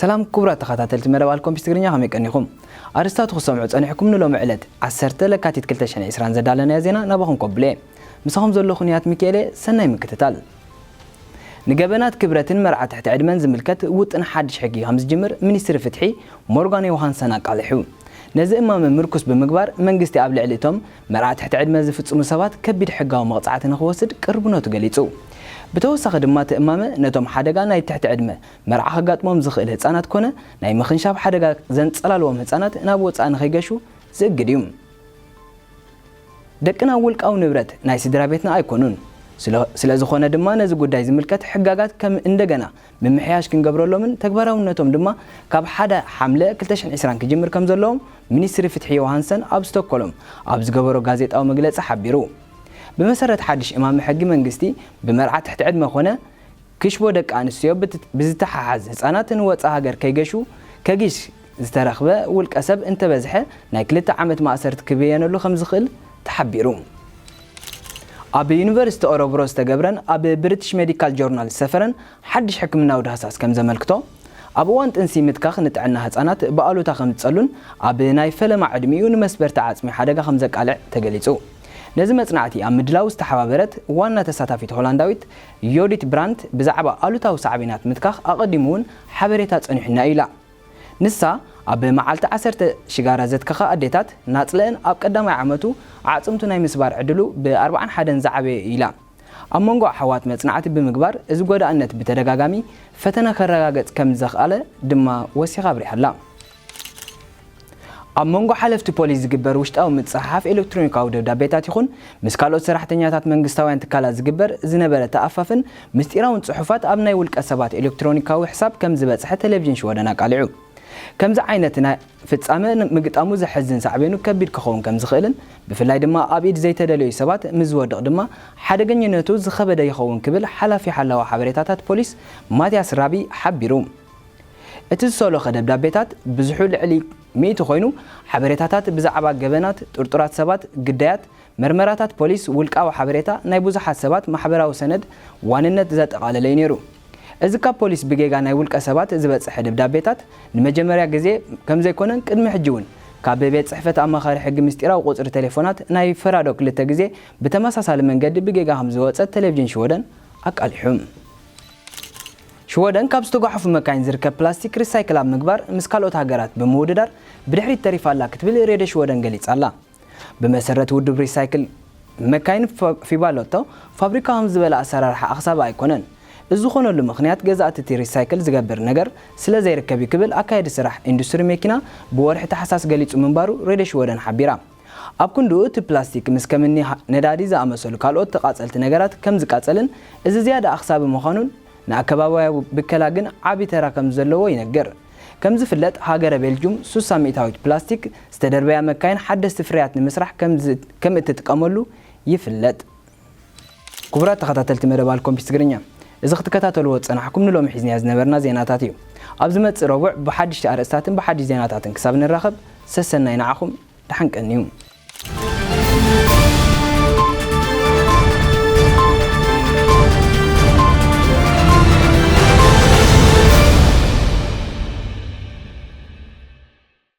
ሰላም ኩቡራት ተኻታተልቲ መደብ ኣልኮምፒስ ትግርኛ ከመይ ቀኒኹም ኣርስታቱ ክትሰምዑ ጸኒሕኩም ንሎሚ ዕለት ዓሰርተ ለካቲት ክልተ ሽሕን ዕስራን ዘዳለናዮ ዜና ናባኹም ከብሎየ ምሳኹም ዘለኹ ንያት ሚኪኤልየ ሰናይ ምክትታል ንገበናት ክብረትን መርዓ ትሕቲ ዕድመን ዝምልከት ውጥን ሓድሽ ሕጊ ከም ዝጅምር ሚኒስትሪ ፍትሒ ሞርጋን ዮውሃንሰን ኣቃሊሑ። ነዚ እማመ ምርኩስ ብምግባር መንግስቲ ኣብ ልዕሊ እቶም መርዓ ትሕቲ ዕድመ ዝፍጽሙ ሰባት ከቢድ ሕጋዊ መቕጻዕቲ ንኽወስድ ቅርብነቱ ገሊጹ። ብተወሳኺ ድማ እቲ እማመ ነቶም ሓደጋ ናይ ትሕቲ ዕድመ መርዓ ከጋጥሞም ዝኽእል ህጻናት ኮነ ናይ ምኽንሻብ ሓደጋ ዘንጸላልዎም ህጻናት ናብ ወጻኢ ንኸይገሹ ዝእግድ እዩ። ደቅና ውልቃዊ ንብረት ናይ ስድራቤትና ኣይኮኑን። ስለዝኾነ ድማ ነዚ ጉዳይ ዝምልከት ሕጋጋት ከም እንደገና ምምሕያሽ ክንገብረሎምን ተግባራውነቶም ድማ ካብ ሓደ ሓምለ ክልተ ሽሕን ዕስራን ክጅምር ከምዘለዎም ሚኒስትሪ ፍትሒ ዮውሃንሰን ኣብ ስቶኮሎም ኣብ ዝገበሮ ጋዜጣዊ መግለጺ ሓቢሩ። ብመሰረት ሓድሽ እማመ ሕጊ መንግስቲ ብመርዓ ትሕቲ ዕድመ ኮነ ክሽቦ ደቂ ኣንስትዮ ብዝተሓሓዝ ህጻናት ንወጻእ ሃገር ከይገሹ ከጊሽ ዝተረኽበ ውልቀሰብ እንተበዝሐ ናይ ክልተ ዓመት ማእሰርቲ ክብየነሉ ከምዝኽእል ተሓቢሩ። ኣብ ዩኒቨርሲቲ ኦረብሮ ዝተገብረን ኣብ ብሪቲሽ ሜዲካል ጆርናል ዝሰፈረን ሓድሽ ሕክምናዊ ዳህሳስ ከምዘመልክቶ፣ ኣብ እዋን ጥንሲ ምትካኽ ንጥዕና ህጻናት ብኣሉታ ከምዝጸሉን ኣብ ናይ ፈለማ ዕድሚኡ ንመስበርቲ ዓጽሚ ሓደጋ ከምዘቃልዕ ተገሊጹ። ነዚ መጽናዕቲ ኣብ ምድላው ዝተሓባበረት ዋና ተሳታፊት ሆላንዳዊት ዮዲት ብራንት ብዛዕባ ኣሉታዊ ሳዕቤናት ምትካኽ ኣቐዲሙ'ውን ሓበሬታ ጸኒሑና'ዩ ኢላ። ንሳ ኣብ መዓልቲ ዓሰርተ ሽጋራ ዘትከኸ ኣዴታት ናጽለእን ኣብ ቀዳማይ ዓመቱ ኣዕጽምቱ ናይ ምስባር ዕድሉ ብኣርብዓን ሓደን ዝዓበየ እዩ ኢላ። ኣብ መንጎ ኣሕዋት መጽናዕቲ ብምግባር እዚ ጐዳእነት ብተደጋጋሚ ፈተነ ከረጋገጽ ከም ዘኽኣለ ድማ ወሲኻ ኣብሪሃ'ላ። ኣብ መንጎ ሓለፍቲ ፖሊስ ዝግበር ውሽጣዊ ምጽሕሓፍ ኤለክትሮኒካዊ ደብዳቤታት ይኹን ምስ ካልኦት ሰራሕተኛታት መንግስታውያን ትካላት ዝግበር ዝነበረ ተኣፋፍን ምስጢራውን ጽሑፋት ኣብ ናይ ውልቀ ሰባት ኤለክትሮኒካዊ ሕሳብ ከም ዝበጽሐ ተለቪዥን ሽወደን ኣቃሊዑ። ከምዚ ዓይነት ናይ ፍጻመ ምግጣሙ ዘሕዝን ሳዕቤኑ ከቢድ ክኸውን ከም ዝኽእልን ብፍላይ ድማ ኣብ ኢድ ዘይተደለዩ ሰባት ምስ ዝወድቕ ድማ ሓደገኝነቱ ዝኸበደ ይኸውን ክብል ሓላፊ ሓላዊ ሓበሬታታት ፖሊስ ማትያስ ራቢ ሓቢሩ። እቲ ዝሰሎኸ ደብዳቤታት ብዝሑ ልዕሊ ሚእቲ ኮይኑ፣ ሓበሬታታት ብዛዕባ ገበናት፣ ጥርጡራት ሰባት፣ ግዳያት፣ መርመራታት ፖሊስ፣ ውልቃዊ ሓበሬታ ናይ ብዙሓት ሰባት ማሕበራዊ ሰነድ ዋንነት ዘጠቓለለ'ዩ ነይሩ። እዚ ካብ ፖሊስ ብጌጋ ናይ ውልቀ ሰባት ዝበጸሐ ደብዳቤታት ንመጀመርያ ግዜ ከምዘይኮነን ቅድሚ ሕጂ'ውን ካብ ቤት ጽሕፈት ኣማኻሪ ሕጊ ምስጢራዊ ቁጽሪ ቴሌፎናት ናይ ፈራዶ ክልተ ግዜ ብተመሳሳሊ መንገዲ ብጌጋ ከምዝወጸት ቴሌቭዥን ሽወደን ኣቃሊሑ። ሽወደን ካብ ዝተጓሓፉ መካይን ዝርከብ ፕላስቲክ ሪሳይክል ኣብ ምግባር ምስ ካልኦት ሃገራት ብምውድዳር ብድሕሪት ተሪፋ ኣላ ክትብል ሬድዮ ሽወደን ገሊጻ ኣላ። ብመሰረት ውድብ ሪሳይክል መካይን ፊባሎቶ ፋብሪካ ከምዚ ዝበለ ኣሰራርሓ ኣኽሳቢ ኣይኮነን። እዚ ዝኾነሉ ምኽንያት ገዛእቲ እቲ ሪሳይክል ዝገብር ነገር ስለዘይርከብ እዩ ክብል ኣካያዲ ስራሕ ኢንዱስትሪ መኪና ብወርሒ ታሕሳስ ገሊጹ ምንባሩ ሬድዮ ሽወደን ሓቢራ። ኣብ ክንድኡ እቲ ፕላስቲክ ምስ ከም እኒ ነዳዲ ዝኣመሰሉ ካልኦት ተቓጸልቲ ነገራት ከም ዝቃጸልን እዚ ዝያዳ ኣኽሳቢ ምዃኑን ንኣከባብያዊ ብከላ ግን ዓቢ ተራ ከም ዘለዎ ይነግር። ከም ዝፍለጥ ሃገረ ቤልጁም ሱሳ ሚእታዊት ፕላስቲክ ዝተደርበያ መካይን ሓደስቲ ፍርያት ንምስራሕ ከም እትጥቀመሉ ይፍለጥ። ኩቡራት ተኸታተልቲ መደብ ኣልኮምፒስ ትግርኛ እዚ ክትከታተልዎ ዝጸናሕኩም ንሎሚ ሒዝናዮ ዝነበርና ዜናታት ኢዩ። ኣብ ዝመጽእ ረቡዕ ብሓድሽቲ ኣርእስታትን ብሓድሽ ዜናታትን ክሳብ ንራኸብ ሰሰናይ ንዓኹም ድሓን ቀንዩ።